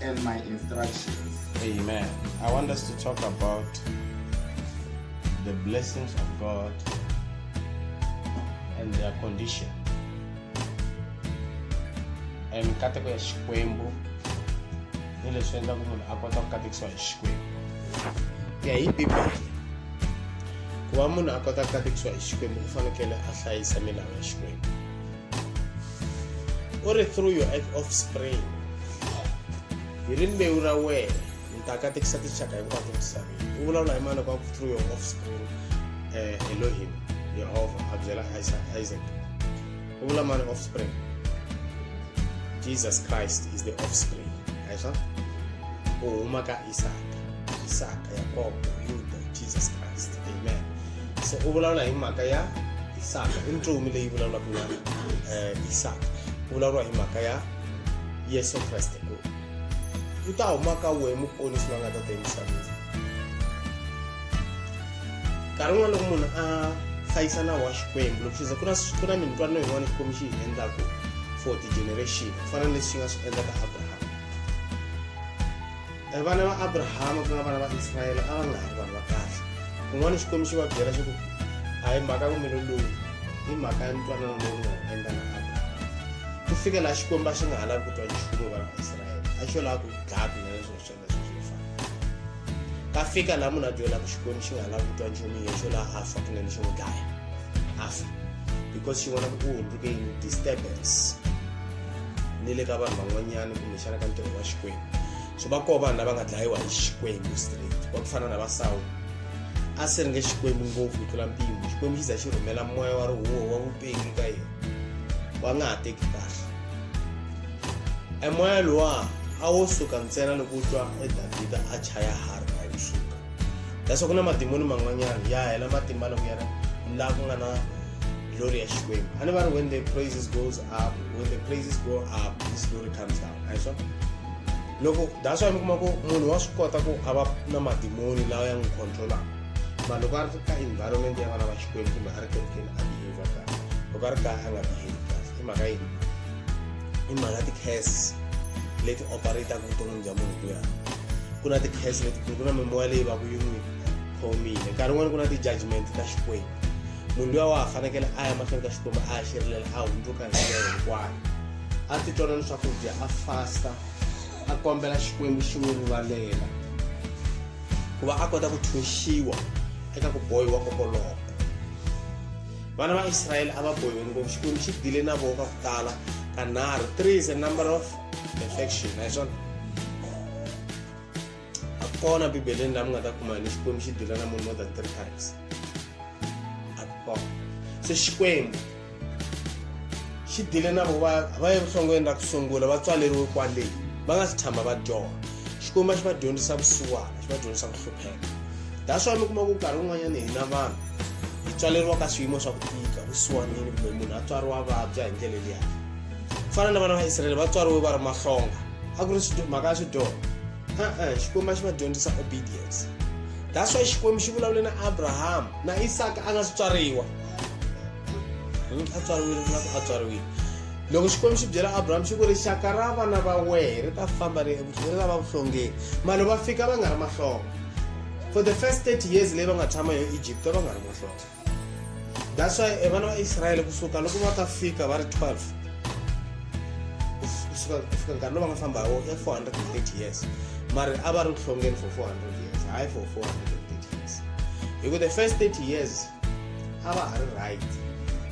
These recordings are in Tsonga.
and my instructions. Amen. I want us to talk about the blessings of God and their condition. And nkateko ya xikwembu ni leswi endlaku munhu a kota ku katekisiwa hi xikwembu ku ya hi bibele ku va munhu a kota ku katekisiwa hi xikwembu u fanekele a hlayisa milawu ya xikwembu u ri through your offspring hi rimbewu ra wena mi ta katekisa tinxaka hinkwato misaveni u vulavula hi mani loko a ku through your offspring um elohim yehova a byela isaac u vula mani offspring jesus christ is the offspring a hi swa u huma ka isaka isaka yakobo yuda jesus christ amen se u vulavula hi mhaka ya isaka i ntsumi leyi vulavulaka na um isaka ku vulavuriwa hi mhaka ya yesu kreste ku u ta huma ka wehe muponisi la nga ta ta emisaveni nkarhi wun'wana loko munhu a hlayisa nawu wa xikwembu loko xiza ku na ku na minitwanano yin'wana xikwembu xi yi endlaku for ti-generation ku fana na leswi xi nga swi endla ka abraham e vana va abrahama ku nga vana va israyele a va nga ha ri vanhu va kahle kun'wana xikwembu xi va byela xo ku a hi mhaka kumelo lowu hi mhaka ya ntwanano lowu nga endla na abrahama ku fika laha xikwembu a xi nga ha lavi ku twa nchumu vana va israyele a xo lava ku dlaya kunene swilo swa leswi swi fana ka fika laha munhu a byelaka xikwembu xi nga ha lavi ku twa nchumu ye xo laha a fa kunene xi n'wi dlaya a fa because xi vona ku u hundzuke yini disturbance ni le ka vanhu van'wanyana kumbexana ka ntirho wa xikwembu so va koho vanhu lava nga dlayiwa hi xikwembu straight va ku fana na va sawula a si ri nge xikwembu ngopfu ku tlula mpimo xikwembu xi za xi rhumela moya wa rihuwo wa vupengi ka yena wa nga ha teki kahle e moya lowa a wo suka ntsena loko u twa e davhida a chaya harhi a yi suka leswaku na madimoni man'wanyana ya hela matimba loko ya ri laha ku nga na glory ya xikwembu a ni va ri when the praises goes up when the praises go up this glory comes down a swa loko that's why mi kuma ku munhu wa swi kota ku a va na madimoni lawa ya n'wi controlaka ma loko a ri ka environment ya vana va xikwembu kumbe a ri kerekeni a behavior kahle loko a ri kaya a nga behavi kahle i mhaka yini i mhaka ti-case leti operataka vuton'wini bya munhu kuya ku na ti-case letikulu ku na mimoya leyi va ku yi n'wi khomile nkarhi wun'wana ku na ti-judgment ta xikwembu munhu luya wa ha fanekele a ya mahlweni ka xikwembu a ya xirilela a hundzuka hi ndlela hinkwayo a titwana ni swakudya a fasta a kombela xikwembu xi n'wi rivalela ku va a kota ku thunxiwa eka ku bohiwa kokoloko vana va israyele a va bohiwe ngopfu xikwembu xi dile na voho ka ku tala kanharhu three is a number of perfection hi swona a kona bibeleni laha mi nga ta kuma ni xikwembu xi dila na munhu more than three times a ku kona se xikwembu xi dile na vo va va ye vuhlongweni ra ku sungula va tswaleriwe kwaleyi va nga si tshama va dyoha xikwembu a xi va dyondzisa vusiwana xi va dyondzisa ku hlupheka that's why mi kuma ku nkarhi wun'wanyana hina vanhu hi tswaleriwa ka swiyimo swa ku tika vusiwanini kumbe munhu a tswariwa vabya hi ndlela liya ku fana na vana va israele va tswariwe va ri mahlonga a ku ri mhaka ya swidoho e-e xikwembu a xi va dyondzisa obedience that's why xikwembu xi vulavule na abraham na isaka a nga si tswariwa hmm, a tswariwile na ku a tswariwile loko xikwembu xi byela abraham xi ku ri xaka ra vana va wehe ri ta famba ri ri lava vuhlongeni mali va fika va nga ri mahlonga for the first 30 years leyi va nga tshama yo egypt va nga ri mahlonga that's why eh, vana vaisraele kusuka loko va ta fika va ri 12 kusuka kufika nkarhi lowu va nga famba hi wo ya 430 years mari a va ri ku hlongeni for 400 years hayi for 430 years hi ku the first 30 years a va ha ri right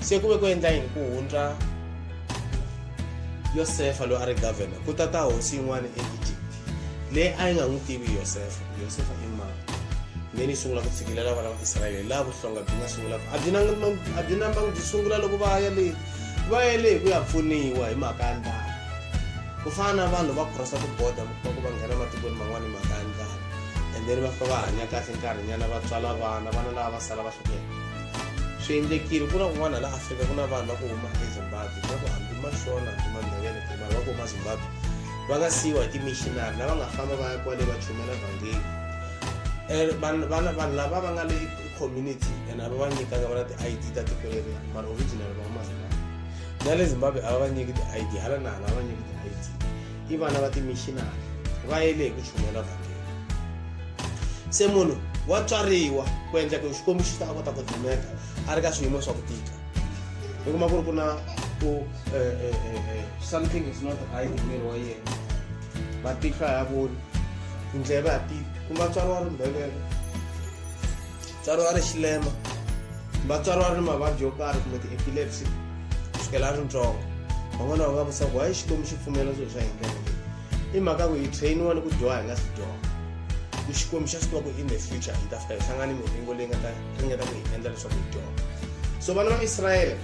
se ku ve ku endla yini ku hundza yosefa loyi a ri governor ku tata hosi yin'wana eegypt leyi a yi nga n'wi tivi yosefa yosefa i mani then yi sungula ku tshikilela vana va israyele laha vuhlonga byi nga sungulaka a byi a byi nambangi byi sungula loko va ya le va ya le hi ku ya pfuniwa hi mhaka ya ndlala ku fana na vanhu va crossa tiboda va ku va nghena matikweni man'wana hi mhaka ya ndlala and then va fika va hanya kahle nkarhinyana va tswala vana vana lava va sala va hlukela swi endlekile ku na kun'wana laha afrika ku na vanhu va ku huma ezimbabwe va ku hambi mashona hambi mandevele kumbe va ku huma zimbabwe va nga siyiwa hi timishinari lava nga famba va ya kwale va chumela vhangeli eh, vanhu lava va nga le community and ava va nyikanga va na ti-i d ta tiko leri mara original va mazimbabwe na le zimbabwe a va va nyiki ti-i d hala na hala va va nyiki ti-i d i vana va timishinari va yele hi ku chumela vhangeli se munhu wa tswariwa ku endla ku xikwembu xi ta a kota ku dumeka a ri ka swiyimo swa ku tika mi kuma ku ri ku na ku eh, eh, eh, something is not right hi miri wa yena matihlo a ya voni tindleve a ti kumba tswari wa ri mbhevele tswari wa ri xilema kumba tswari wa ri ni mavabyi yo karhi kumbe ti-epilepsy kusukela a ri ntsongo van'wana va nga vusaku hayi xikwembu xi pfumela swilo swa hindlela leyi i mhaka ku hi trainiwa ni ku dyoha hi nga swi dyoha ku xikwembu xa swi tiva ku in the future hi ta fika hi hlangana ni miringo leyi nga ta ringeta ku hi endla leswaku hi dyoha so vana va israyele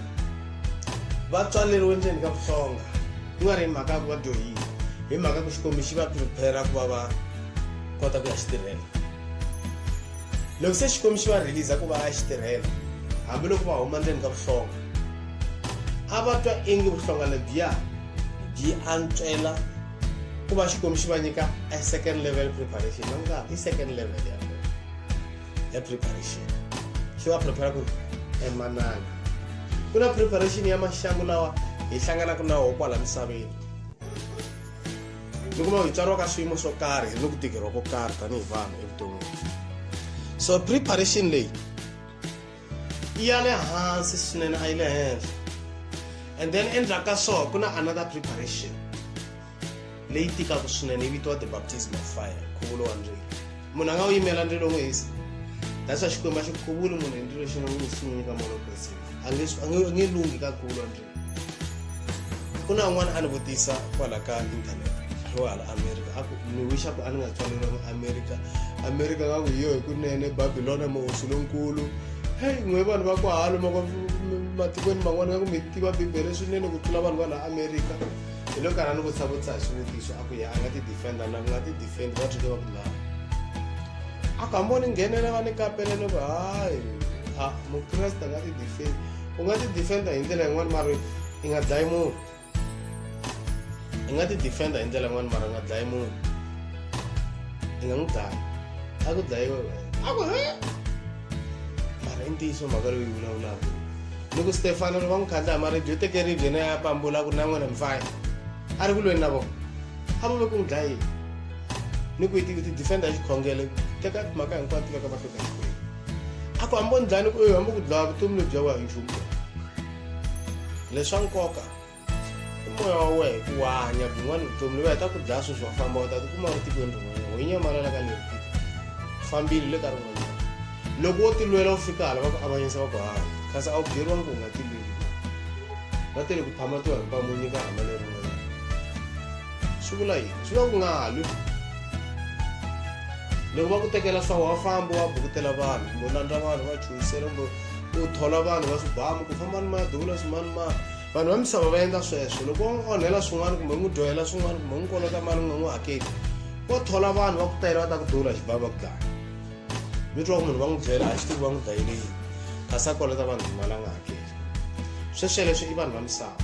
vatswaleriwe ndzeni ka vuhlonga ku nga ri hi mhaka ya ku va dyohile hi mhaka ku xikwembu xi va prepare ku va va kota ku ya xi tirhela loko se xikwembu xi va releasa ku va ya xi tirhela hambiloko va huma ndzeni ka vuhlonga a va twa ingi vuhlonga lebyiya byi antswela ku va xikwembu xi va nyika a second level preparation na nga i second level ya ya preparation xi va prepare ku emananga ku na preparation ya maxangu lawa hi hlanganaka na woho kwala misaveni ni kuma hi tswariwa ka swiyimo swo karhi hi ni ku tikeriwa ko karhi tanihi vanhu evuton'wini so preparation leyi yi ya le hansi swinene a yi le henhla and then endzhaku ka swona ku na another preparation leyi tikaka swinene yi vitiwa the baptism of fire nkhuvulo wa ndzilo munhu a nga wu yimela ndzilo n'wi hisa that's why xikwembu a xi khuvuli munhu hi ndzilo xi nga n'wi swi n'wi nyika moya lokwetsini a nge a nge- a nge lunghi ka nkhuvulo wa ndzilo ku na un'wana a ni vutisa kwala ka internet lowa hala america a ku ni wixa ku a ni nga tswaleriwangi america america va ku hi yo hi kunene babilona muhosi lonkulu heyi n'we vanhu va ku halo matikweni man'wana va ku mi tiva bibele swinene ku tlula vanhu va laha america hi lo karhi a ni vutisa vutisa hi swivutiso a ku ya a nga ti defenda na ku nga ti defend va tshike va ku lava a ku hambi o ni nghenela va ni kapele ni ku hayi a mukreste a nga ti defend u nga ti defenda hi ndlela yin'wana mara i nga dlayi munhu i nga ti defenda hi ndlela yin'wana mara u nga dlayi munhu i nga n'wi dlayi a ku dlayiwe wena a ku he mhaka i ntiyiso mhaka leyi yi vulavulaka ni ku stefano loko va n'wi khandla hi maribye u teke ribye na ya pambula a ku ri na n'wina mifaya a ri ku lweni na vona a va ve ku n'wi dlayini ni ku yi ti defenda hi xikhongele teka mhaka hinkwayo tiveka va hlota xikwembu a ku hambo ni dlaya ni ku hambo ku dlaya vutomi lebyi ya wa hi nchumu leswa nkoka moya wa wena ku wa hanya byin'wana vutomi loyi heta ku dlaya sweswi wa famba u ta tikuma u tikweni rin'wanyana ho nyamalala ka leri tiko fambile le ka rin'wanyana loko wo tilwela u fika hala va ku avanyisa va ku hanya kasi a wu byeriwanga ku u nga tilweli va tele ku phama to hinkwamu nyika hama le rin'wanyana swi vula yini swi vula ku nga lwi loko va ku tekela swa wa famba wa bukutela vanhu kumbe u landza vanhu va chuhisela kumbe u thola vanhu va swibamu ku famba ni madula swimanimani vanhu va misava va endla sweswo loko va n'wi onhela swin'wana kumbe n'wi dyohela swin'wana kumbe n'wi kolota mali n'wi n'wi hakeli vo thola vanhu va ku tayela va ta ku dula xibavi va ku dlaya mi twa ku munhu va n'wi byela a xi tivi va n'wi dlayele yini kasi a kolota vanhu timali a nga hakeli sweswo leswi i vanhu va misava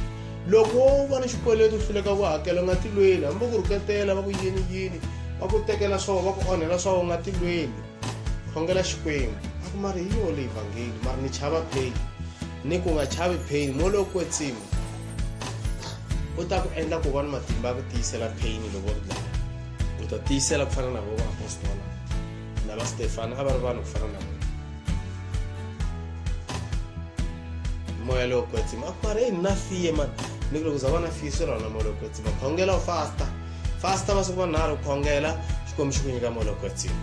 loko wo va ni xikweleti u hluleka ku hakela u nga tilweni hambi va ku rhuketela va ku yini yini va ku tekela swo va ku onhela swo u nga tilweni khongela xikwembu a ku mari hi yona leyi vhangeli mara ni chava pain ni ku nga chavi pain mo loko kwetsima u ta ku endla ku va ni matimba ya ku tiyisela pain loko ri dlaya u ta tiyisela ku fana na vo vaapostola na va stefana a va ri vanhu ku fana na vona moya lowo kwetsima a ku mari eyi na fiye mani ni ku loko za va na fiye swi rona moya lowo kwetsima khongela u fasta fasta masiku manharhu khongela xikwembu xi ku nyika moya lowu kwetsima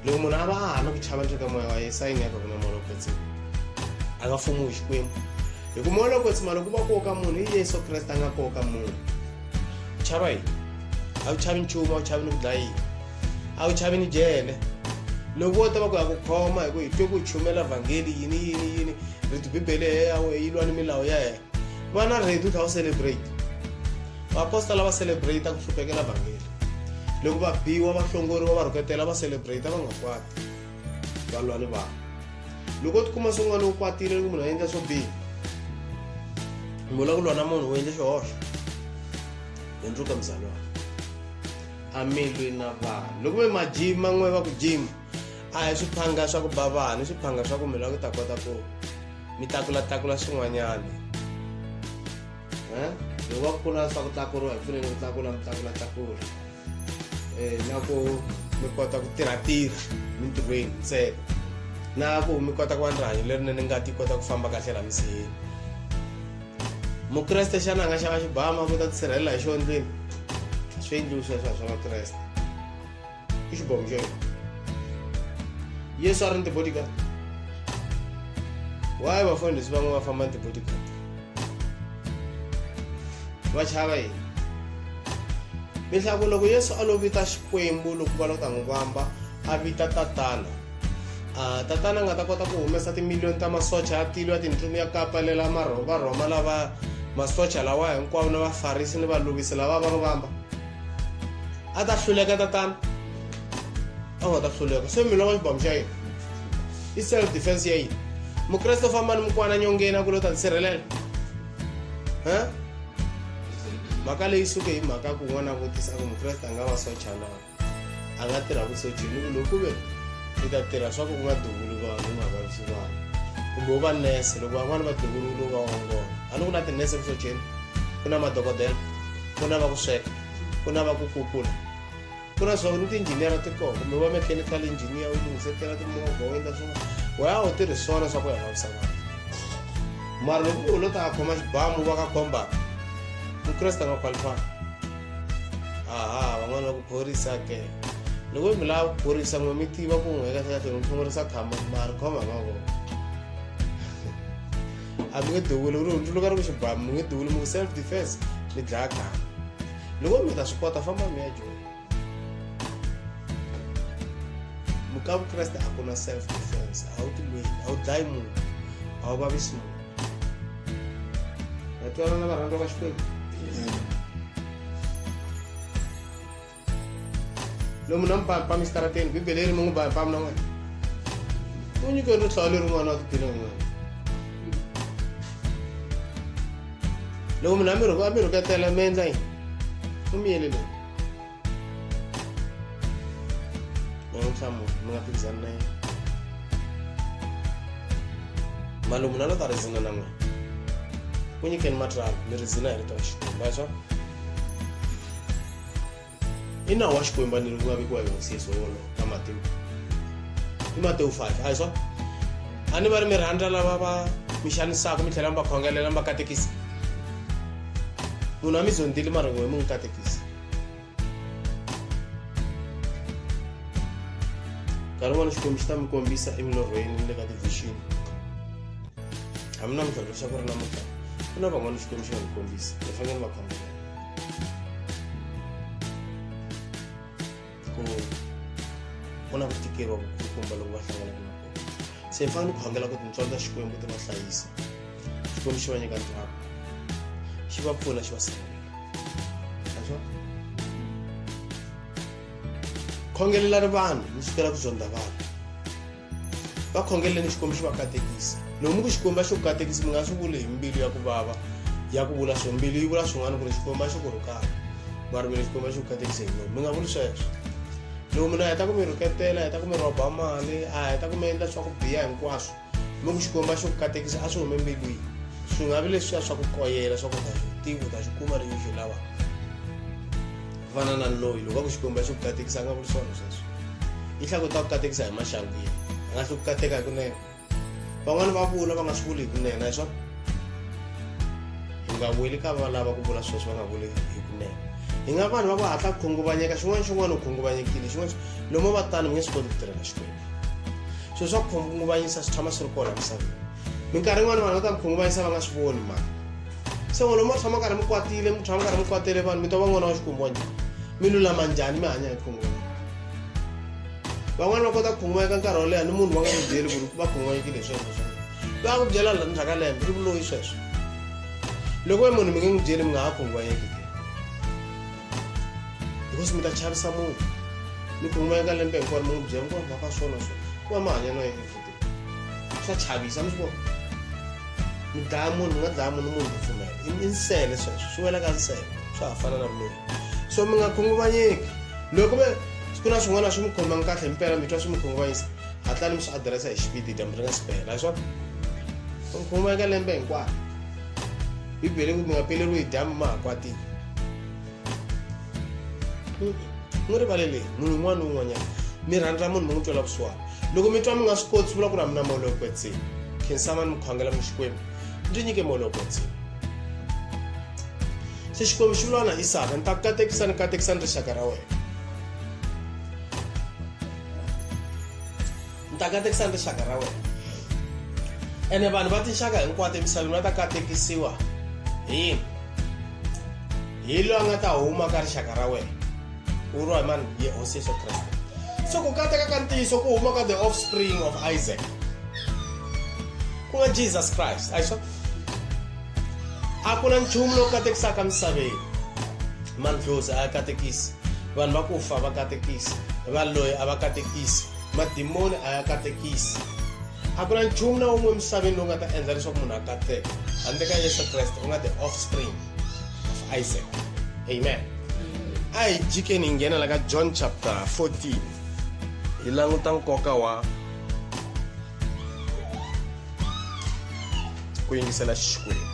loko munhu a va a ha na ku chava leswi ka moya wa ye sayini ya ka ku na moya lowu kwetsima a nga fumiwi xikwembu hi ku moya lowu kwetsima loko va koka munhu hi yesu kreste a nga koka munhu u chava yini a wu chavi nchumu a wu chavi ni ku dlayiwa a wu chavi ni jele loko wo ta va ku ya ku khoma hi ku hi twe ku chumela vhangeli yini yini yini riti bibele ya yawe yi lwa ni milawu ya yena va na ready u tlha u celebrate vaapostola va celebrate ku hluphekela vhangeli loko va biwa va hlongoriwa va rhuketela va celebrate va nga kwati va lwa ni vanhu loko u tikuma swin'wana lowu kwatile loko munhu a endla swo biha mula ku lwa na munhu u endle xihoxo hundzuka mzalwana a mi lwi na vanhu loko ve majima n'we va ku jima a hi swiphanga swa ku ba vanhu i swiphanga swa ku mina ku ta kota ku mi takulatakula swin'wanyana loko va kula swa ku tlakuriwa hi fanele ku tlakula mi tlakulatlakula um na ku mi kota ku tirhatirha mintirhweni ntsena na ku mi kota ku va ni rihanyo lerinene ngati yi kota ku famba kahle la misiheni mukreste xana a nga xava xibama ku ta tisirhelela hi xo ndlwini swi endliwi sweswo swa vakreste Ixi bom, Jay. Yesu a ri ni tibodyguard. Why vafundhisi van'we va famba ni tibodyguard? Va chava yini? Leswaku loko Yesu a lo vita Xikwembu loko va lo ta n'wi vamba, a vita tatana. Uh, tatana a nga ta kota ku humesa timiliyoni ta masocha ya tilo ya tintlumi ya kapalela varhoma lava masocha lawa hinkwawo na vafarisi ni valovisi lava va n'wi vamba a ta hluleka tatana a nga ta hluleka se mi lava xibamu xa yini i self defense ya yini mukreste u famba ni mukwana nyongeni a ku lo ta ni sirhelela um mhaka leyi suke hi mhaka ku n'wana a vutisa ku mukreste a nga va socha na a nga tirha ku sochini ku loko ve i ta tirha swa ku ku nga duvuli vanhu u nga vavisi vanhu kumbe u va nese loko van'wana va duvululu va ongola a ni ku na tinese ku socheni ku na madokodela ku na va ku sweka ku na va ku kukula ku na swa ku ni tiinjiniyara ti koho kumbe va mechanical engineer u lunghisetela timovha u endla swin'wana waya u tirhi swona swa ku ya vavisa vanhu mara loko u lo ta a khoma xibamu va ka khombaka mukreste nga qualifaka aha van'wana va ku phorisa ke loko mi lava ku phorisa n'we mi tiva ku n'we kahlekahle mi phongorisa khama mari khoma mavoko a mi nge duvuli ri hundzuluka ri ku xibamu mi nge duvuli mi ku self defense mi dlaya khana loko mi ta swi kota famba mi ya joni muka vukreste a ku na self defense a wu tilweni a wu dlayi munhu a wu vavisi munhu vatwanana varhandza va xikwembu lomu na mpa pa mixitarateni bibele yi ri mungu ba pam na n'wina u nyike rihlolo leri n'wana wa tiphina n'wina loko munhu a mi rhuku a mi rhuketela mi endla yini u mi yele loyi mi nga nhlamulo mi nga phikizani na yena malomu na lo ta ri zina na n'wina ku nyikeni matralo mi ri zina hi rito ra xikwembu va swa i nawu wa xikwembu ni loku nga vekiwa hi hosi yesu wolo na matewu i matewu 5 a hi swa a ni va ri mi rhandza lava va mi xanisaka mi tlhela mi va khongelela mi va katekisa munhu a mi zondzile mara n'we mi n'wi katekisa nkarhi wun'wana xikwembu xi ta mi kombisa emilorhweni ni le ka tivixini a mi na mintlhontlho xa ku ri na mukama ku na van'wana xikwembu xi nga mi kombisa hi fanele va khongelela ku ku na ku tikeriwa vukulukumba loko va hlanganaka na kona se hi fanele ku khongela ku tintswalo ta xikwembu ti va hlayisa xikwembu xi va nyika ntswalo xi va pfuna xi va sirhelela khongelelani vanhu mi sukela ku zonda vanhu va khongeleni xikwembu xi va katekisa lomu ku xikwembu va xi ku katekisi mi nga swi vuli hi mbilu ya ku vava ya ku vula swo mbilu yi vula swin'wana ku ri xikwembu a xi ku rhukaka va rivele xikwembu a xi ku katekise hi lomu mi nga vuli sweswo loko munhu a heta ku mi rhuketela a heta ku mi rhoba mali a heta ku mi endla swa ku biya hinkwaswo mi ku xikwembu a xi ku katekisa a swi hume mbilwini swi nga vi leswiya swa ku koyela swa ku ta xi tivi u ta xi kuma ri yi xi lavaka vananani loyi loko va ku xikwembu xi ku katekisa a nga vuli swona sweswo yi hlaku ta ku katekisa hi maxangwini a nga hli ku kateka hi kunene van'wani va vula va nga swi vuli hi kunene hi swona hi nga weli ka va lava ku vula sweswo va nga vuli hi kunene hi nga vanhu va va hatla ku khunguvanyeka xin'wana xin'wana u khunguvanyekile xin'wana lomu va tano mi nge swi koti ku tirhela xikwembu swilo swa ku khunguvanyisa swi tshama swi ri kona misaveni minkarhi yin'wana vanhu va ta ku khunguvanyisa va nga swi voni ma se n'wana mi tshama karhi mi kwatile mi tshama karhi mi kwatele vanhu mi twa va n'wana wa xikwembu wa njhani mi lulama njhani mi hanya hi khunguvanyisa van'wana va kota ku khunguvanyeka nkarhi wo leha ni munhu va nga n'wi byeli ku ri va khunguvanyekile hi sweswo swa va ku byela la ndzhaka lembe i vuloyi sweswo loko we munhu mi nge n'wi byeli mi nga ha khunguvanyeki because mi ta chavisa munhu mi khunguvanyeka lembe hinkwaro mi n'wi byela ku va ka swona swo ku va mahanyelo ya swa chavisa mi swi vona mi dlaya munhu mi nga dlaya munhu munhu pfumela i nsele sweswo swi wela ka nsele swa ha fana na ruleni so mi nga khunguvanyeki loko mi ku na swin'wana swi mi khomangi kahle mpela mi twa swi mi khunguvanyisa hatlani mi swi adiresa hi xipidi dyambu ri nga si pela swa mi khunguvanyeka lembe hinkwayo bibele ku mi nga peleriwi hi dyambu ma ha kwatile mi rivale leyi munhu un'wana ni un'wanyana mi rhandza munhu mi n'wi twela vusiwana loko mi twa mi nga swi koti swi vula ku ri a mi na molo yo kwetsima khinsama ni mi khongela mi xikwembu ndzi nyike molo yo kwetsima se xikwembu xi vulana isaka ni ta katekisa ni katekisa ni rixaka ra wena ni ta katekisa ni rixaka ra wena ene vanhu va tinxaka hinkwato emisaveni va ta katekisiwa hi yini hi loyi a nga ta huma ka rixaka ra wena ku vuriwa hi mani hi hosi yesu kreste so ku kateka ka ntiyiso ku huma ka the offspring of isaac ku nga jesus christ ayiswa a ku na nchumu lowu katekisaka misaveni mandlozi a ya katekisi vanhu va ku fa va katekisi va loyi a va katekisi Madimoni a ya katekisi. A ku na nchumu na wun'we emisaveni lowu nga ta endla leswaku munhu a katseka handle ka Yesu Kreste u nga the offspring of Isaac. Amen. A hi jikeni hi nghena la ka John chapter 14 hi languta nkoka wa ku yingisela Xikwembu.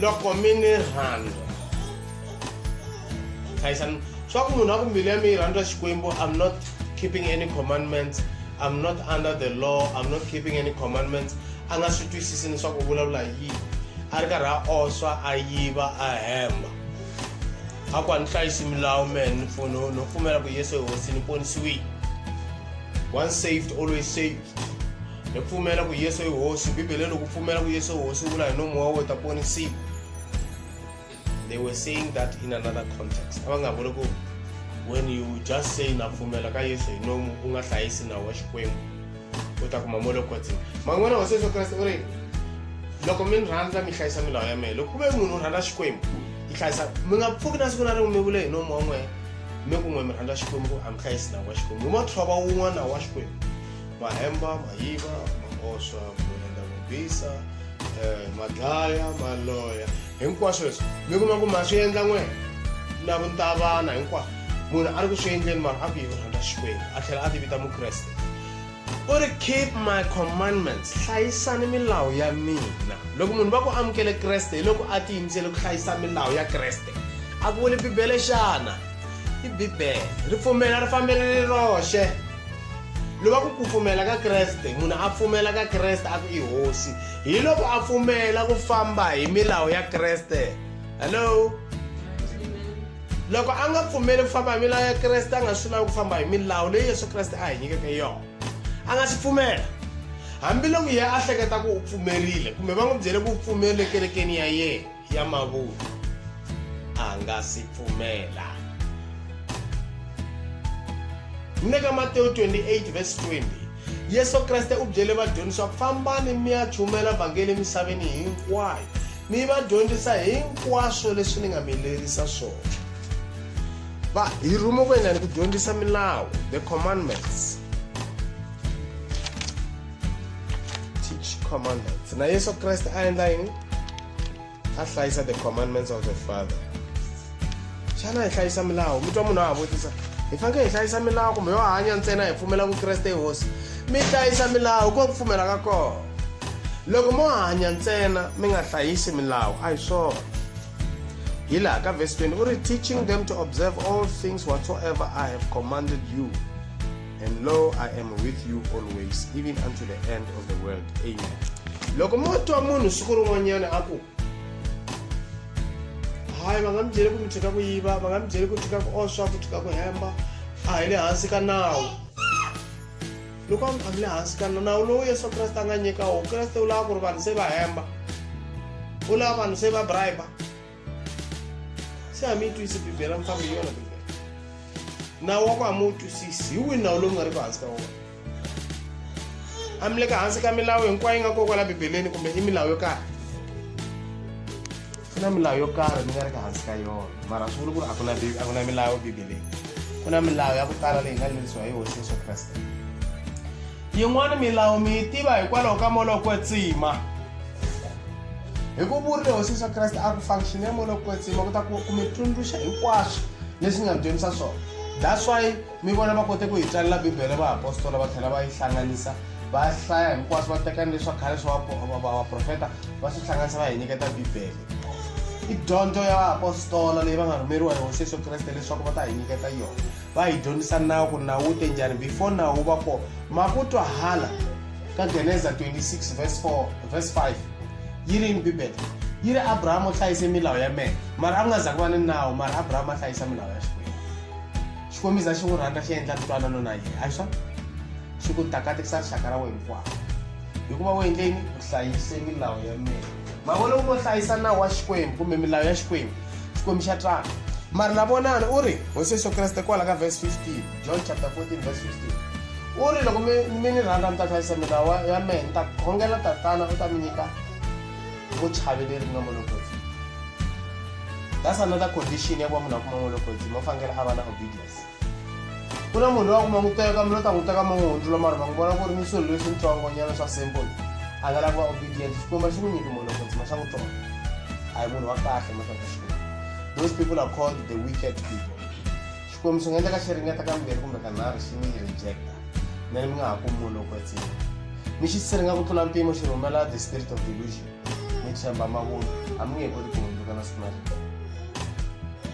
loko mi ni rhandza hlayisani swa ku munhu a ku mbilu ya mi yi rhandza xikwembu i'm not keeping any commandments i'm not under the law i'm not keeping any commandments a nga swi twisisi leswaku u vulavula hi yini a ri karhi a oswa a yiva a hemba a ku a ni hlayisi milawu mehe ni pfuno no pfumela ku yesu hi hosi ni ponisiwile once saved always saved hi pfumela ku yesu i hosi bibele loko pfumela ku yesu hosi u vula hi nomu wa wo ta ponisiwa they were saying that in another context a va nga vuli ku when you just say na pfumela ka yesu hi nomu u nga hlayisi nawu wa xikwembu u ta kuma molokotsini man'wana hosi yesu kreste u ri loko mi ni rhandza mi hlayisa milawu ya mehe loko ku ve munhu u rhandza xikwembu yi hlayisa mi nga pfuki na siku na rin'we mi vule hi nomu wa n'wehe mi kun'we mi rhandza xikwembu a mi hlayisi nawu wa xikwembu hi mothova wun'wana nawu wa xikwembu mahemba ma yiva ma oswa ku endla ku bisa um ma dlaya ma loya hinkwaswo leswi mi kuma ku ma swi endla n'wena na vuntavana hinkwaswo munhu a ri ku swi endleni mara a ku yi rhandza xikwembu a tlhela a ti vita mukreste u ri keep my commandments hlayisani milawu ya mina loko munhu va ku amukele kreste hi loko a tiyimisele ku hlayisa milawu ya kreste a ku vuli bibele xana i bibele ri pfumela ri fambele ri roxe lo va ku ku pfumela ka kreste munhu a pfumela ka kreste a ku i hosi hi loko a pfumela ku famba hi milawu ya kreste hello loko a nga pfumeli ku famba hi milawu ya kreste a nga swi lavi ku famba hi milawu leyi yesu kreste a hi nyikeke yona a nga swi pfumela hambiloko yena a hleketa ku u pfumerile kumbe va n'wi byele ku u pfumerile kerekeni ya yena ya mavunwa a nga si pfumela mi le ka matewu 28 vhesi 20 yesu kreste u byele vadyondzi swa ku fambani mi ya chumela vhangeli emisaveni hinkwayo mi va dyondzisa hinkwaswo leswi ni nga mi lerisa swona va hi rhume ku endlani ku dyondzisa milawu the commandments teach commandments na yesu kreste a endla yini a hlayisa the commandments of the father xana hi hlayisa milawu mi twa munhu a ha vutisa hi fanekele hi hlayisa milawu kumbe yo hanya ntsena hi pfumela vukreste hi hosi mi hlayisa milawu ko ku pfumela ka kona loko mo hanya ntsena mi nga hlayisi milawu a hi swona hi laha ka vhesi 20 u ri teaching them to observe all things whatsoever i have commanded you and lo i am with you always even unto the end of the world amen loko mo twa munhu siku rin'wanyana a ku hayi va nga mi byeli ku mi tshika ku yiva va nga mi byeli ku tshika ku oswa ku tshika ku hemba a hi le hansi ka nawu loko a mi le hansi ka nawu lowu yesu kreste a nga nyika wo kreste u lava ku ri vanhu se va hemba u lava vanhu se va bribe se a mi yi twisi bibele a mi fambi yona bibele nawu wa ku a mi wu twisisi hi wihi nawu lowu nga ri ku hansi ka wona a mi le ka hansi ka milawu hinkwayo yi nga koko la bibeleni kumbe i milawu yo karhi ku na milawu yo karhi mi nga ri ka hansi ka yona mara swi vuli ku ri a ku na a ku na milawu bibeleni ku na milawu ya ku tala leyi nga lerisiwa hi hosi yesu kreste Yin'wana milawu mi yi tiva hikwalaho ka moya wa kwetsima. Hi ku vurile Hosi Yesu Kreste a ku function ya moya wa kwetsima ku ta ku ku mi tsundzuxa hinkwaswo leswi nga mi dyondzisa swona. That's why mi vona va kote ku hi tsalela Bibele va apostola va tlhela va yi hlanganisa va hlaya hinkwaswo va teka ni leswa khale swa vaprofeta va swi hlanganisa va hi nyiketa Bibele. I dyondzo ya vaapostola leyi va nga rhumeriwa hi Hosi Yesu Kreste leswaku va ta hi nyiketa yona. va hi dyondzisa nawu ku nawu wu te njhani before nawu wu va kona ma ku twahala ka geneza 26 verse 4 verse 5 yi ri yini bibele yi ri abrahama u hlayise milawu ya mehe mara a ku nga za ku va ni nawu mara abrahama a hlayisa milawu ya xikwembu xikwembiza xi n'wi rhandza xi endla ntwanano na yena a swona xi ku takatekisa rixaka ra wena hinkwaro hikuva u endleni u hlayise milawu ya mehe mavona u ngo hlayisa nawu wa xikwembu kumbe milawu ya xikwembu xikwembu xa twala mari na vonani u ri hosi yesu kreste kwala ka vhesi 15 john chapter 14 vhesi 15 u ri loko mi mi ni rhandza mi ta hlayisa milawu ya mehe ni ta khongela tatana u ta mi nyika vuchavi leri nga molokozi that's another condition ya ku va munhu a kuma molokozi mo fanekele a va na obedience ku na munhu loyi a ku ma n'wi teka mina u ta n'wi teka ma n'wi hundzula mara va n'wi vona ku ri ni swilo leswi ntsongonyana swa simple a nga lava obedience xikwembu xi n'wi nyiki munhu loko ntsima xa n'wi tsonga a hi munhu wa kahle mahlaka xikwembu those people are called the wicked people xikwembu swi nga endleka xi ringeta ka mbirhi kumbe ka nharhu xi ni rejecta mina mi nga ha kumi munhu loko etsima ni xi siringa ku tlula mpimo xi rhumela the spirit of delusion ni tshemba mavunwa a mi nge he koti ku hundzuka na siku na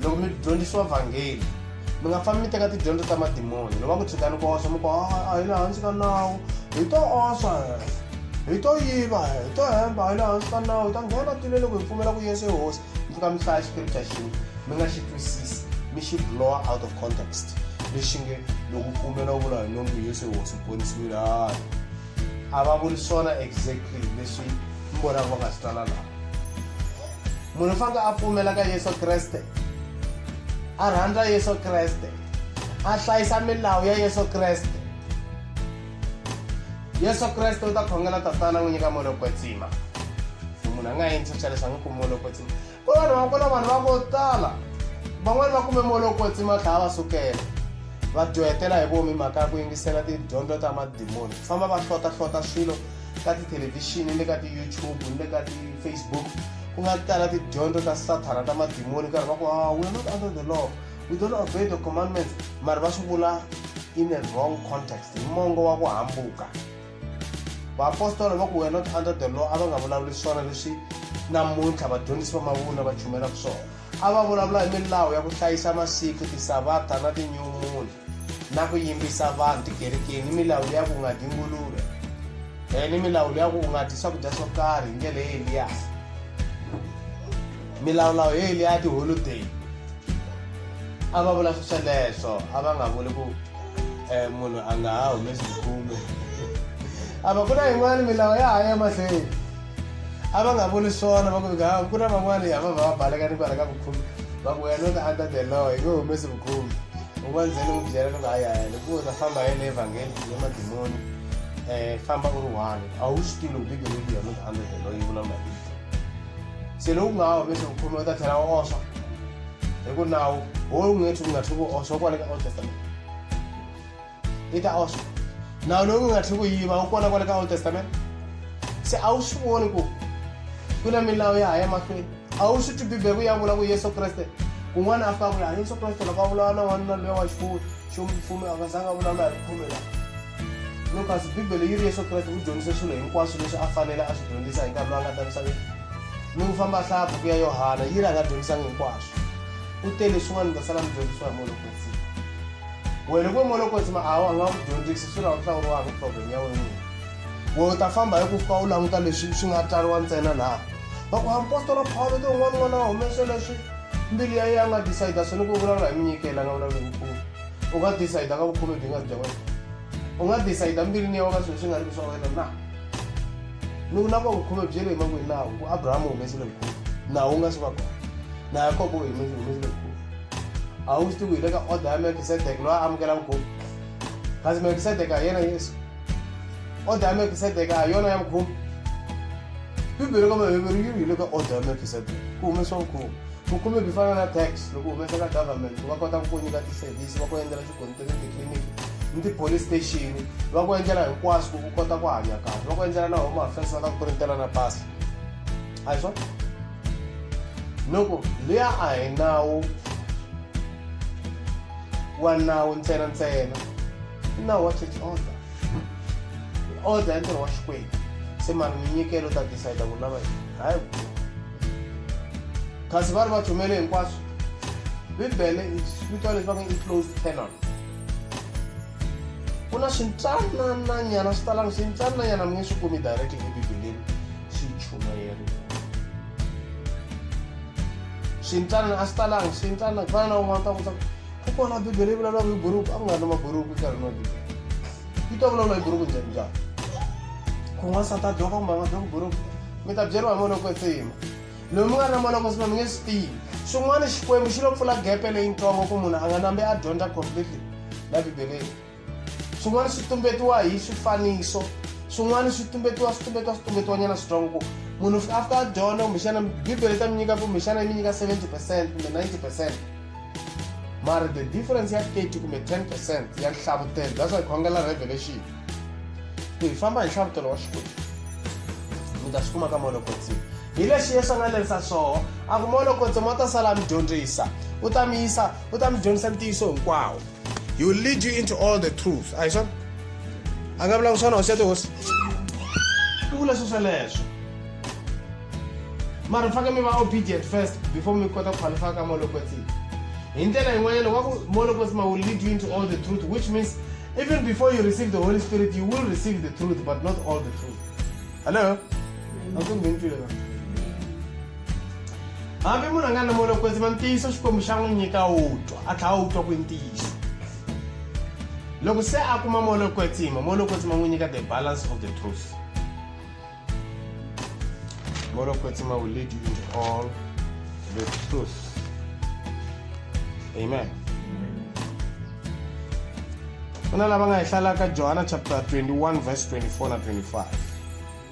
loko mi dyondzisiwa vhangeli mi nga fambi mi teka tidyondzo ta madimoni loko va ku tshikani ku osa mi ku a hi le hansi ka nawu hi to osa hi to yiva hi to hemba a hi le hansi ka nawu hi ta nghena tile loko hi pfumela ku yesu hosi mi fika mi hlaya xikripta xin'we mi nga xi twisisi mi xi blowa out of context lexi nge loko pfumela u vula hi nomu yesu hosi ponisiwile hayi a va vuli swona exactly leswi mi vonaka va nga swi tsala laha Munhu u fanele a pfumela ka Yesu Kreste, a rhandza Yesu Kreste, a hlayisa milawu ya Yesu Kreste. Yesu Kreste u ta khongela tatana n'wi nyika moya kwetsima. So munhu a nga yini swa leswi a nga kumi moya kwetsima. Ku vanhu va ku na vanhu va ko tala van'wani va kume moya kwetsima a tlhela va sukela va dyohetela hi vomi mhaka ya ku yingisela tidyondzo ta madimoni ku famba va hlota hlota swilo ka tithelevhixini ni le ka ti-youtube ni le ka ti-facebook ku nga tala tidyondzo ta sathana ta madimoni karhi va ku a ah, we're not under the law we don't obey the commandments mari va swi vula in a wrong context hi mongo wa ku hambuka vaapostola va ku we're not under the law a va nga vulavuli swona leswi namuntlha vadyondzisi va mavunwa va chumelaka swona a va vulavula hi milawu ya ku hlayisa masiku tisavata na tinyumuni na ku yimbisa vanhu tikerekeni ni milawu leya ku nga dyi nguluve um ni milawu leya ku nga dyi swakudya swo karhi hi ndlela ye eliya milawulawu yo eliya ya tiholiday a va vula swesweleswo a va nga vuli ku um munhu a nga ha humesi khume a va ku na yin'wana milawu ya ha ya mahlweni A va nga vuli swona va ku vika haku ku na van'wani a va va va baleka ni kwala ka vukhumi va ku wena u ta under the law hi nge humesi vukhumi u va ndzeni n'wi byela loko hayi hayi loko u ta famba hi le evhangeli hi le madimoni um famba u ri one a wu swi tivi loko bibele yi ku yona u ta under the law yi vulavula hi se loku nga ha humesi vukhumi u ta tlhela u oswa hi ku nawu wo u nge tlhi u nga tlhi ku oswa kwale ka old testament yi ta oswa nawu lowu nga tlhi ku yiva wu kona kwale ka old testament se a wu swi voni ku ku na milawu ya ha ya mahlweni a wu swi twi bibele ku ya vula ku yesu kreste kun'wana a fika ku laha yesu kreste loko a vulavula na n'wanuna loya wa xifuwo xo mfumo a nga zanga a vulavula hi khume laha lucas bibele yi ri yesu kreste u dyondzise swilo hinkwaswo leswi a fanele a swi dyondzisa hi nkarhi lowu a nga ta misaveni ni ku famba hlaya buku ya yohana yi ri a nga dyondzisanga hinkwaswo u tele swin'wana mi ta sala mi dyondzisiwa hi munhu kwetsini Wena loko molokotsi ma awa a nga ku dyondzisi swi hlawuriwa hi problem ya wena we u ta famba hi ku fika u languta leswi swi nga tsariwa ntsena laha va ku apostola phawulo ti un'wana un'wana a humese leswi mbilu ya yena a nga decide swona ku vulavula hi minyikelo a nga vulavula hi vukulu u nga decide ka vukhume byi nga ri bya wena u nga decide mbilwini ya wena swilo swi nga ri ki swa wena na ni ku na ku vukhume byi le emakwini nawu ku abrahama u humesile vukhume nawu wu nga swi va kona na yakobo u humesile vukhume awusti wile ka oda ya melkisedeke loyi a amukela mukhuva kasi melkisedeke a yena yesu oda ya melkisedeke a yona ya mukhuva bibele ka maheveru yi wile ka oda ya melkisedeke ku humesiwa mukhuva vukhume byi fana na tax loko humesela government va kota ku ku nyika tiservice va ku endlela swigonitiri titliliniki ni ti-police station va ku endlela hinkwaswo ku u kota ku hanya kahle va ku endlela na home affairs va ta ku printela na pasi a hi swona loko liya a hi nawu wa nawu ntsena ntsena i nawu wa church order order ya ntirho wa xikwembu se mari minyikelo ta decide ku lava hayi kasi va ri va chumele hinkwaswo bibele vito leswi va nge i closed canon ku na swintsanananyana swi talanga swintsanananyana mi nge swi kumi directly ebibeleni swichudeni swintsanana a swi talanga swintsanana ku fana na un'wana ta vutisa ku kona bibele yi vulavulaka hi buruku a ku nga ri na maburuku nkarhi na bibele yi ta vulavula hi buruku njhani njhani kun'wana sa ta dyoka kumbe a nga dyoki buruku mi ta byeriwa hi moloko etsima loyi mi nga ri na moloko etsima mi nge swi tivi swin'wana xikwembu xi lo pfula gepe leyintsongo ku munhu a nga nambi a dyondza completely la bibeleni swin'wana swi tumbetiwa hi swifaniso swin'wana swi tumbetiwa swi tumbetiwa swi tumbetiwanyana swi twa ku munhu a fika a dyondza kumbexana bibele ta mi nyika kumbexana yi mi nyika 70 percent kumbe 90 percent mara the difference ya 30 kumbe 10 percent ya nhlavutelo that's why khongela revelation ku hi famba hi nhlavutelo wa xikwembu mi ta swi kuma ka molokotsi hi lexi yesu a nga lerisa swoho a ku molokotsi ma ta sala mi dyondzisa u ta mi yisa u ta mi dyondzisa ntiyiso hinkwawo He will lead you into all the truth. A hi swona? A nga vulavula swona hosi ya tihosi. U vula sweswo leswo. Mara faneke mi va obedient first before mi kota ku qualify ka molokwetsini. Hi ndlela yin'wanyana wa ku molokwetsima will lead you into all the truth which means even before you receive the Holy Spirit you will receive the truth but not all the truth. Hello? Akunge ngitshile na. hambi munhu a nga na mona kwetsima ntiyiso xikwembu xa n'wi nyika wu twa a tlhela wu twa ku ntiyiso loko se a kuma mona kwetsima mona kwetsima n'wi nyika the balance of the truth mona kwetsima will lead you into all the truth amen ku na lava nga hi hlalaka johana chapter 21 verse 24 na 25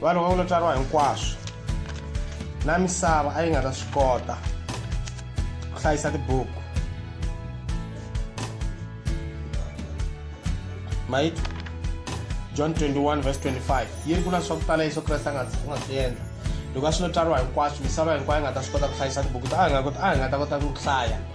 vanhu va n'wina tswariwa hinkwaswo na misava a yi nga ta swi kota ku hlayisa tibuku mayiti john 21 vs 25 yi ri ku na swa ku tala yesu kreste a nga swi endla loko a swi no tswariwa hinkwaswo misava hinkwayo a nga ta swi kota ku hlayisa tibuku a nga ta kota ku hlaya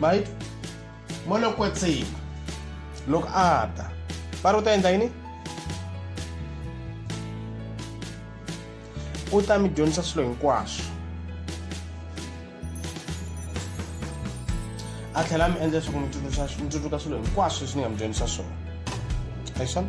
right mo lo kwetsima loko a ta va ri u ta endla yini u ta mi dyondzisa swilo hinkwaswo a tlhela mi endla leswaku mi tsundzuka mi tsundzuka swilo hinkwaswo leswi ni nga mi dyondzisa swona hi swona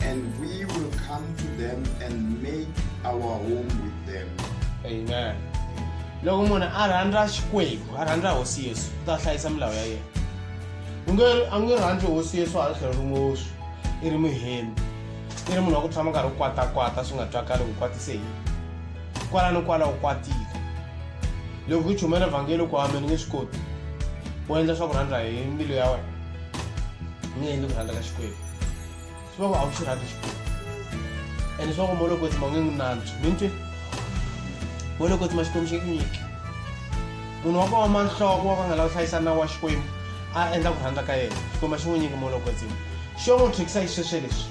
And we will come to them and make our home with them. Amen. loko munhu a rhandza xikwembu a rhandza hosi yesu u ta hlayisa milawu ya yena u nge a nge rhandzi hosi yesu hala tlhelo rin'woxi i ri muhembi i ri munhu wa ku tshama karhi u kwatakwata swi nga twakali ku kwatise yini kwala ni kwala u kwatile loko ku chumela vhangeli ku hambeni nge swi koti u endla swa ku rhandza hi mbilu ya wena u nge endli ku rhandza ka xikwembu Swango a wu xi rhandzi xikwembu ene swango mo loko tsima u nge n'wi nantswi mi ntwi mo loko tsima xikwembu xi nge ku nyiki munhu wa ku oma nhloko wa ku a nga lava hlayisa nawu wa xikwembu a endla ku rhandza ka yena xikwembu a xi n'wi nyiki mo loko tsima xo n'wi thyekisa hi sweswe leswi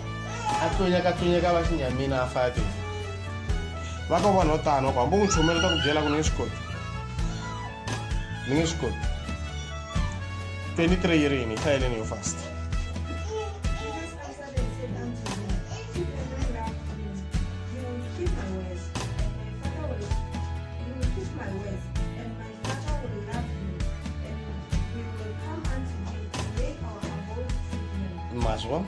a tlonyaka tlonyaka va xinyamina a faya tena va ka vanhu vo tano va ku hambi u n'wi chomela ta ku byela ku ni nge swi koti ni nge swi koti 23 yi ri yini yi hlayeleni yo fasta maswa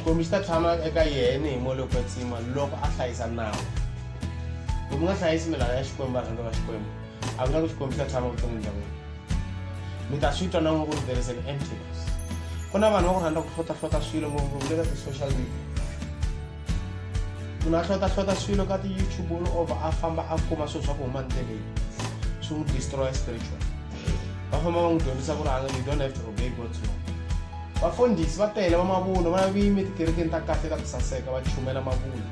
xikwembu xi ta tshama eka yena hi molo kwetsima loko a hlayisa nawu loko mi nga hlayisi milawu ya xikwembu varhangi va xikwembu I would like to compare time of vuton'wini bya n'wina mi ta swi twa na n'we ku ri there is an emptiness ku na vanhu va ku rhandza ku hlotlahlota swilo ngopfungopfu le ka ti-social media munhu a hlotlahlota swilo ka ti-youtube all over a famba a kuma swilo swa ku huma ndleleni swi n'wi destroya spiritual va famba va n'wi dyondzisa ku ri anga you don't have to obey god's law vafundhisi va tele va mavunwa va na viyimi etikerekeni ta kahle ta ku saseka va chumela mavunwa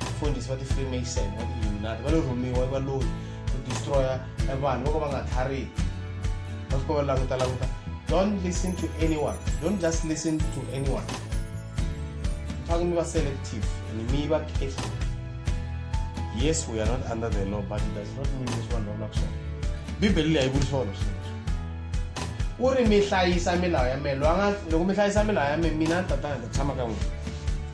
vafundhisi va ti-freemason va ti-illuminati va lo rhumiwa i valoyi ku destroya e vanhu vo ka va nga tlhariki va fika va languta languta don't listen to anyone don't just listen to anyone faneke mi va selective and mi va careful yes we are not under the law but it does not mean leswi vanhu va vulaka swona bibele leyi a yi vuli swona sweswi u ri mi hlayisa milawu ya me loko mi hlayisa milawu ya me mina ni tatana ni ta tshama ka n'wina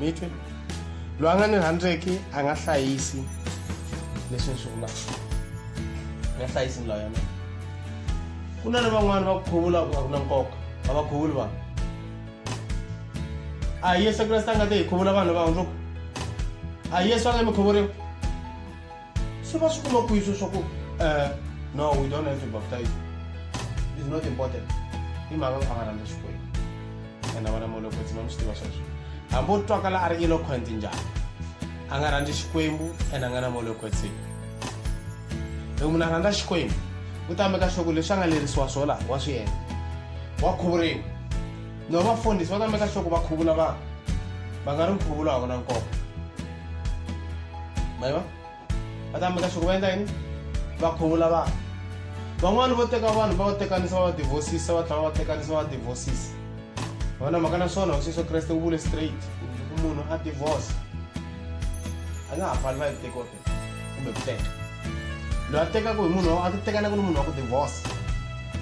mi twe loyi a nga ni rhandzeki a nga hlayisi leswi ni swi vulaka a nga hlayisi milawu ya mina ku na ni van'wana va ku khuvula a ku na nkoka a va khuvuli vanhu a yesu kreste a nga te hi khuvula vanhu va hundzuka a yesu a nga mi khuvuriwa se va swi kuma kwihi swo swa ku um no we don't have to baptize is not important i mhaka ku a va rhandza xikwembu ene vana molokotsi ma mi swi tiva sweswo hambi o twakala a ri eloquent njhani a nga rhandzi xikwembu ene a nga na molokotsi loko munhu a rhandza xikwembu u ta meka swa ku leswi a nga lerisiwa swo laha wa swi endla wa khuvuriwa No vafundhisi va nga meka sure ku va khuvula vanhu va nga ri nkhuvulo a wu na nkoka mayiva va ta meka sure ku va endla yini va khuvula vanhu van'wani vo teka vanhu va va tekanisa va va divhosisa va tlhela va va tekanisa va va divhosisa va na mhaka na swona hosi yesu kreste u vule straight ku munhu a divhorsa a nga ha fani va yi tekiwa kumbe ku teka loyi a tekaka hi munhu a tekanaka ni munhu wa ku divorce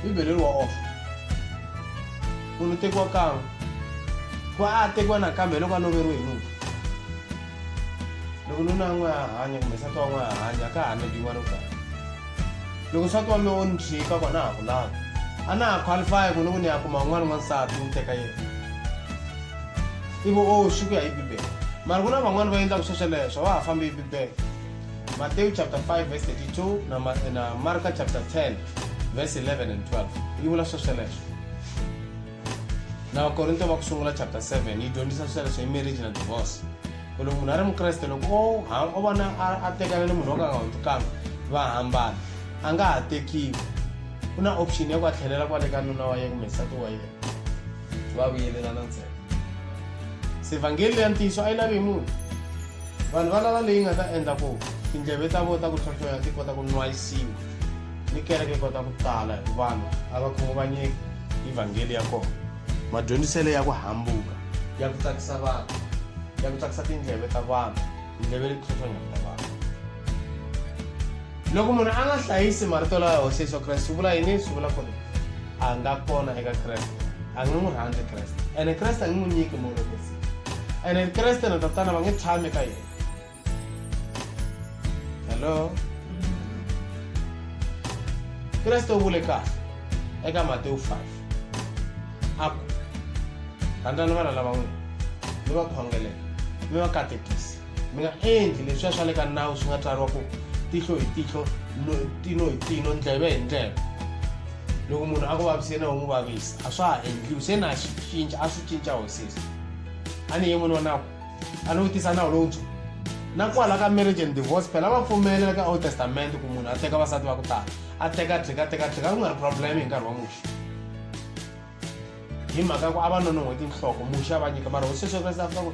bibele ri wa off munhu tekiwa kan'we ku va a tekiwa nakambe loko a loveriwe hi nuna loko nuna n'we a hanya kumbe nsati wa n'we a hanya ka ha nediwa ro kahle loko nsati wa me o ni tshika ku a na ha ku lava a na ha qualify ku ni ku ni ya kuma un'wana n'wansati ni teka yena ivo o swi ku ya hi bibele mari ku na van'wani va endlaka swo sweleswo va ha fambi hi bibele matewu chapter 5 verse 32 na, ma, na marka chapter 10 verse 11 and 12 yi vula swo sweleswo na vakorinto va ku sungula chapter 7 yi dyondzisa sweleswo hi marriage na divorce ku loko munhu a ri mukreste loko o o vona a tekana ni munhu wo ka nga hundzi kambe va hambana a nga ha tekiwi ku na option ya ku a tlhelela kwale ka nuna wa yena kumbe nsati wa yena va vuyelelana ntsena se vhangeli leya ntiyiso a yi lavi hi munhu vanhu va lava leyi nga ta endla ku tindleve ta vo ta ku tlhotlhoya ti kota ku nwayisiwa ni kereke kota ku tala hi vanhu a va khunguvanyeki hi vhangeli ya kona madyondziselo ya ku hambuka ya ku tsakisa vanhu ya ku tsakisa tindleve ta vanhu tindleve leti tlhotlhonyaka ta vanhu loko munhu a nga hlayisi marito lawa hosi yesu kreste swi vula yini swi vula ku ri a nga kona eka kreste a nge n'wi rhandzi kreste ene kreste a nge n'wi nyiki molokisi ene kreste na tatana va nge tshami ka yena hello kreste u vule kahle eka matewu 5 a ku rhandzani vana lava n'wina mi va khongelela mi va katekisa Mi nga endli leswiya swa le ka nawu swi nga tsariwa ku tihlo hi tihlo tino hi tino ndleve hi ndleve loko munhu a ku vaviseni a wu n'wi vavisa a swa ha endliwi se na swi cinca a swi cinca hosisi a ni ye n'wini wa nawu a ni vutisa nawu lowuntshwa na kwala ka marriage and divorce phela va pfumela ka old testament ku munhu a teka vasati va ku tala a teka tlhika teka tlhika ku nga ri problem hi nkarhi wa muxi hi mhaka ya ku a va nonon'hwe tinhloko muxa va nyika mara hosi sweswi va ku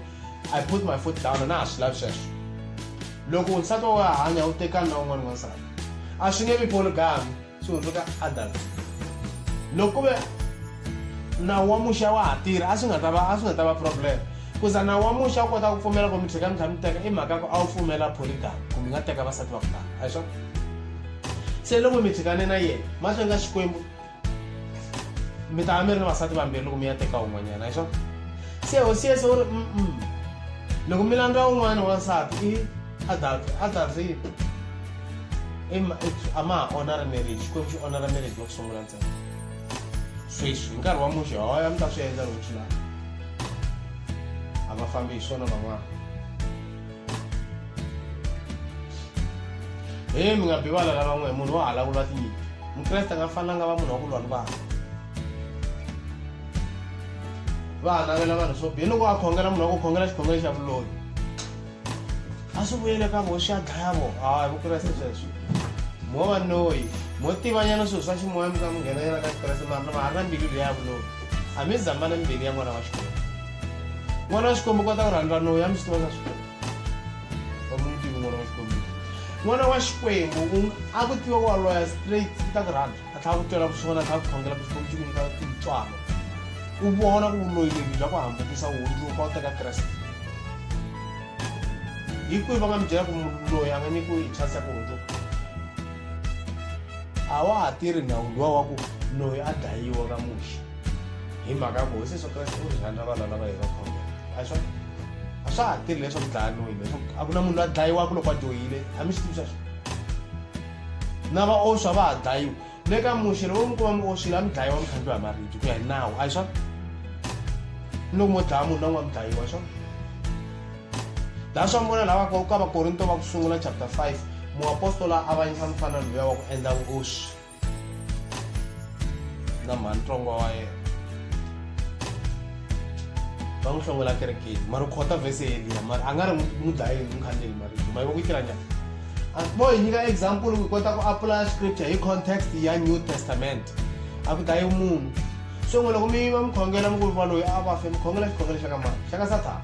i put my foot down na ha swi lavi sweswo loko nsati wa wena hanya u tekani na un'wana n'wansati a swi nge vi polygami swi hundzuka adult loko ku ve nawu wa muxa wa ha tirha a swi nga ta va a swi nga ta va problem kuza nawu wa muxa u kota ku pfumela ku mi tlheka mi tlha mi teka i mhaka ku a wu pfumela polygami ku mi nga teka vasati va ku tala a hi swona se loko mi tlhekane na yena mahlweni ka xikwembu mi ta mi ri ni vasati vambirhi loko mi ya teka un'wanyana hiswo se hosiyese u ri mm loko mi landza un'wana wansati i adultery adultery a ma ha onha ri marriage xikwembu xi onha ra marriage wa ku sungula ntsena sweswi hi nkarhi wa muxe hoya mi ta swi endla loko swi lava a va fambi hi swona van'wana he mi nga bivala lava n'we munhu wa hala ku lwa tinyimpi mukreste nga fanela nga va munhu wa ku lwa ni vanhu va hanavela vanhu swo bihi loko a khongela munhu wa ku khongela xikhongelo xa vuloyi a swi vuyele ka vo swi ya dlaya vo hawa hi vukreste sweswo mo va noyi mo tivanyana swilo swa ximoya mi ka mi nghenanyana ka xikreste mara na va ha ri na mbilu leyi ya vuloyi a mi zambana mbilu ya n'wana wa xikolo mwana wa xikwembu kota ku rhandza loyi a mi swi tiva swa xikwembu va ku mi tivi n'wana wa xikwembu n'wana wa xikwembu a ku tiva ku wa loya straight ku ta ku rhandza a tlhela ku twela vusiwana a tlhela ku khongela ku xikwembu xi ku nyika tintswalo u vona ku vuloyi lebyi bya ku hambukisa u hundzuka u teka kreste hi kwihi va nga mi byela ku loyi a nga nyikiwe hi chance ya ku hundzuka a wa ha tirhi ndhawu luwa wa ku loyi a dlayiwa ka muxi hi mhaka ku hosi yesu kreste u ri rhandza vana lava hi va khongela a swa a swa ha tirhi leswaku dlaya noyini leswaku a ku na munhu la dlayiwaka loko a dyohile a mi swi tivi sweswo na vaoswa va ha dlayiwa le ka muxe loko mi kuma mi oswile a mi dlayiwa mi khandliwa hi maribye ku ya hi nawu a hi swona ni loko mo dlaya munhu na n'wa mi dlayiwa hi swona laha swa mi vona lava ka vakorinto va ku sungula chapter 5 muapostola a avanyisa mufana luya wa ku endla vuoswi na mhani ntsongo wa yena va n'wi hlongola kerekeni mari khota vhese yeliya mari a nga ri n'wi dlayeni n'wi khandleli marito ma yiva ku tirha njhani bo hi nyika example ku kota ku apply scripture hi context ya new testament a ku dlayi munhu so n'we loko mi yiva mi khongela mi ku va loyi a va fe mi khongela xikhongelo xa ka mani xa ka sathana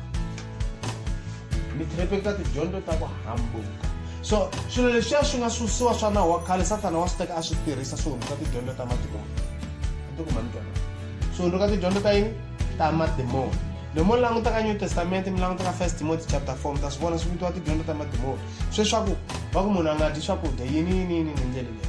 mi tlhepeka tidyondzo ta ku hambuka so swilo leswiya swi nga susiwa swa nawu wa khale sathana wa swi teka a swi tirhisa swi hundzuka tidyondzo ta madimoni antikuma mi twana swi hundzuka tidyondzo ta yini ta madimoni loko mo languta ka new testament mi languta ka first timothy chapter 4 mi ta swi vona swi vitiwa tidyondzo ta madimoni sweswaku va ku munhu a nga dyi swakudya yini yini yini ni ndlela leyi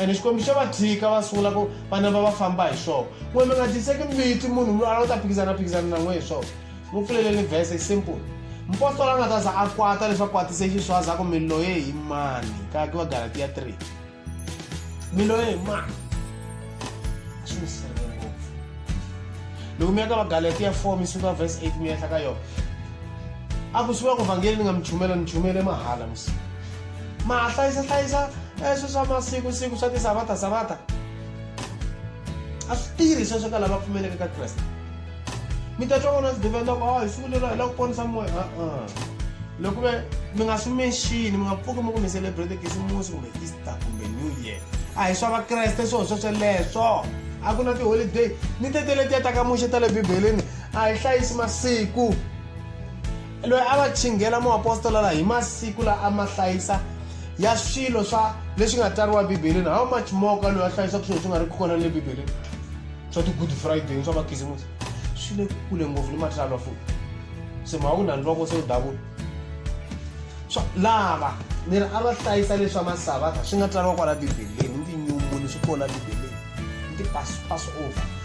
ene xikwembu xa va tshika va sungula ku vana va va famba hi swona n'we mi nga tiseki mbiti munhu mi ala u ta phikizana phikizana na n'we hi swona mu pfuleleni vhese i simple mupostola a nga ta za a kwata leswi a kwatise xiswaza ku mi loye hi mani ka ki va galatiya 3 mi loye hi mani a swi mi sirhelele ngopfu loko mi ya ka va galatiya 4 mi suka vhese 8 mi yehla ka yona a ku swi va ku vhangeli ni nga mi chumela ni chumele mahala msiku mahlayisahlayisa eswi swa masiku siku swa tisavata savata a swi tirhi sweswo ka lava pfumeleke ka kreste mi ta twa vona swidevela loko a hi siku lero hi la ku ponisa moya a-a loko ve mi nga swi menxini mi nga pfuki mi ku mi celebrate kisimusi kumbe easter kumbe new year a hi swa vakreste swo swo sweleswo a ku na tiholiday ni tetele ti ya ta ka muxe ta le bibeleni a hi hlayisi masiku loyi a va chinghela muapostola la hi masiku la a ma hlayisa ya swilo swa leswi nga tsariwa ebibeleni how much more ka loyi a hlayisaka swilo swi nga ri ku kona le bibeleni swa ti-good friday swa makhisimusi swi le kule ngopfu ni matsalwa futi se mhaka ku na ni voko se u davula swa lava ni ri a va hlayisa leswa masavatha swi nga tsariwa kwala bibeleni ni tinyumbuni swi kona bibeleni ni ti-pass pass over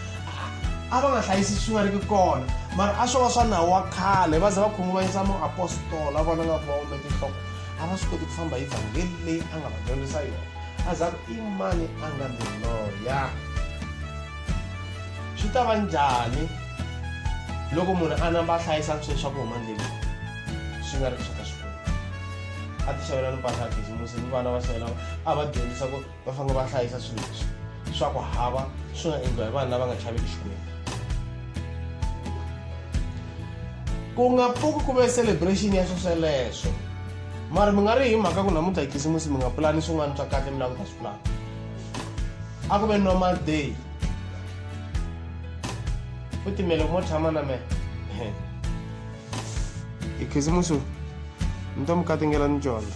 a va nga hlayisi swi nga ri ki kona mara a swo va swa nawu wa khale va ze va khunguvanyisa muapostola vona nga ku va ume tinhloko a va swi koti ku famba hi vhangeli leyi a nga va dyondzisa yona a za ku i mani a nga ni loya swi ta va njhani loko munhu a namba a hlayisa swilo swa ku huma ndleleni swi nga ri swa ka xikwembu a ti xavela ni mpahla ya khisimusi ni vana va xavela a va dyondzisa ku va fanele va hlayisa swilo leswi swa ku hava swi nga endliwa hi vanhu lava nga chaveki xikwembu ku nga pfuki ku ve celebration ya swo sweleswo mara mi nga ri hi mhaka ku namuntlha hi khisimusi mi nga pulani swin'wana swa kahle mi lava ku ta swi pulana a ku ve normal day u timele ku mo tshama na mena hi khisimusi ni ta mi katingela ni dyondza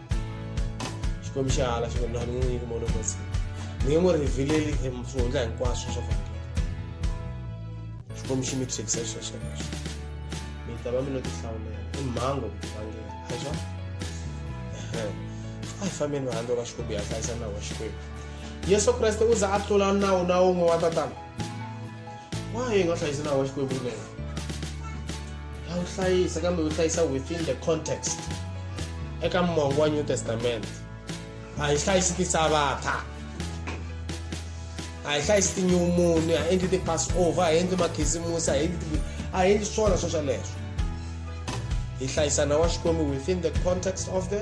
xikwembu xi hala xikwembu laha ni n'wi nyiki mono masi ni nge n'wi rhivileli hi swihundla hinkwaswo swa vhangela xikwembu xi mi thyekisa xilo xelexo mi ta va mi lo tihlawulela i mhango vhangela a swa a hi fambeni va handle ka xikwembu ya hlayisa nawu wa xikwembu yesu kreste u za a tlula nawu na wun'we wa tatana why yi nga hlayisi nawu wa xikwembu ri wena ya wu hlayisa kambe wu hlayisa within the context eka mongo wa new testament a yi hlayisi tisavatha a yi hlayisi tinyumuni a endli ti-passover a endli makhisimusi a endli a endli swona swo sweleswo hi hlayisana wa xikwembu within the context of the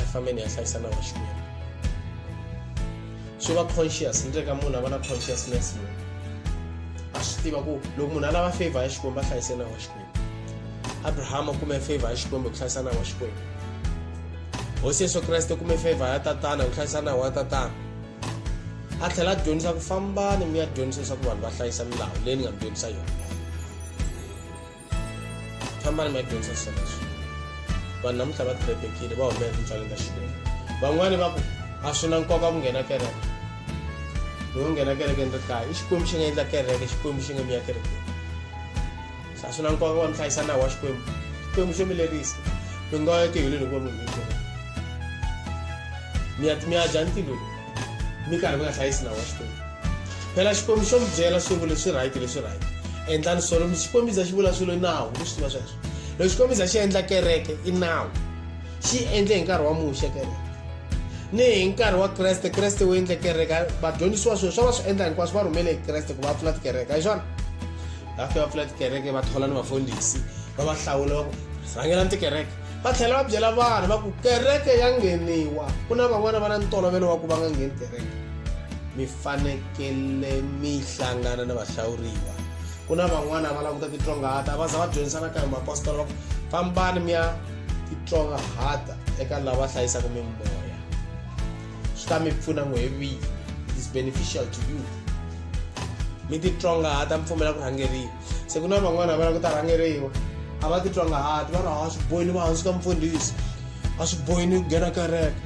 I family yahlaisana vaxinene swi va conscious ni reka munhu a va na consciousness munhu a swi tiva ku loko munhu a lava favor ya xikwembu a hlayise na wa xikwembu abrahama u kume favor ya xikwembu hi ku hlayisa na wa xikwembu hosi yesu kreste u kume favor ya tatana hi ku hlayisa na wa tatana a tlhela a dyondzisa ku fambani mi ya dyondzisa leswaku vanhu va hlayisa milawu leyi ni nga mi dyondzisa yona kambani ma yi dyondzisa leswi vanhu namuntlha va tirebekile va humela tintswaleni ta xikwembu van'wani va ku a swi na nkoka ku nghena kereke loko nghena kereke ni ri kaya i xikwembu xi nga endla kereke xikwembu xi nga mi ya kerekeni se a swi na nkoka wa mi hlayisa nawu wa xikwembu xikwembu xo mi lerisa mi nga ya tihulweni hikuva munhu mi ya mi ya dya ntilweni mi karhi mi nga hlayisi nawu wa xikwembu phela xikwembu xo mi byela swi vula swi right leswi right endlani so loko xikwembu za xi vula swilo i nawu leswi tiva sweswo loko xikwembu za xi endla kereke i nawu xi endle hi nkarhi wa muxe kereke ni hi nkarhi wa kreste kreste wu endle kereke vadyondzisiwa swilo swa va swi endla hinkwaswo va rhumele hi kreste ku va pfula tikereke hi swona va fika va pfula tikereke va thola ni vafundhisi va va hlawula va ku rhangelani tikereke va tlhela va byela vanhu va ku kereke ya ngheniwa ku na van'wana va na ntolovelo wa ku va nga ngheni kereke mi fanekele mi hlangana na vahlawuriwa ku na van'wana va languta titlongahata va za va dyondzisana ka hi mapostola va ku fambani mi ya titlongahata eka lava hlayisaka mimoya swi ta mi pfuna n'we hi vini is beneficial to you mi titlongahata mi pfumela ku rhangeriwa se ku na van'wana va la ku ta rhangeriwa a va titwa nga hati va ri a swi bohi ni va hansi ka mfundhisi a swi bohi ni nghena kereke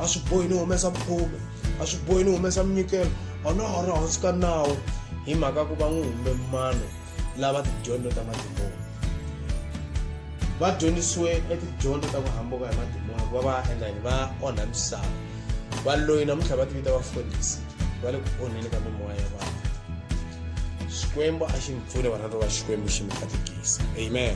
a swi bohi ni humesa mukhume a swi bohi ni humesa minyikelo a na ha ri hansi ka nawu hi mhaka ku va n'wi humbe mano lava tidyondzo ta madimoni va dyondzisiwe etidyondzo ta ku hambuka hi madimoni ku va va endla yini va onha misava valoyi namuntlha va tivita vafundhisi va le ku onheni ka mimoya ya vanhu xikwembu a xi mi pfune vana va xikwembu xi mi katekisa amen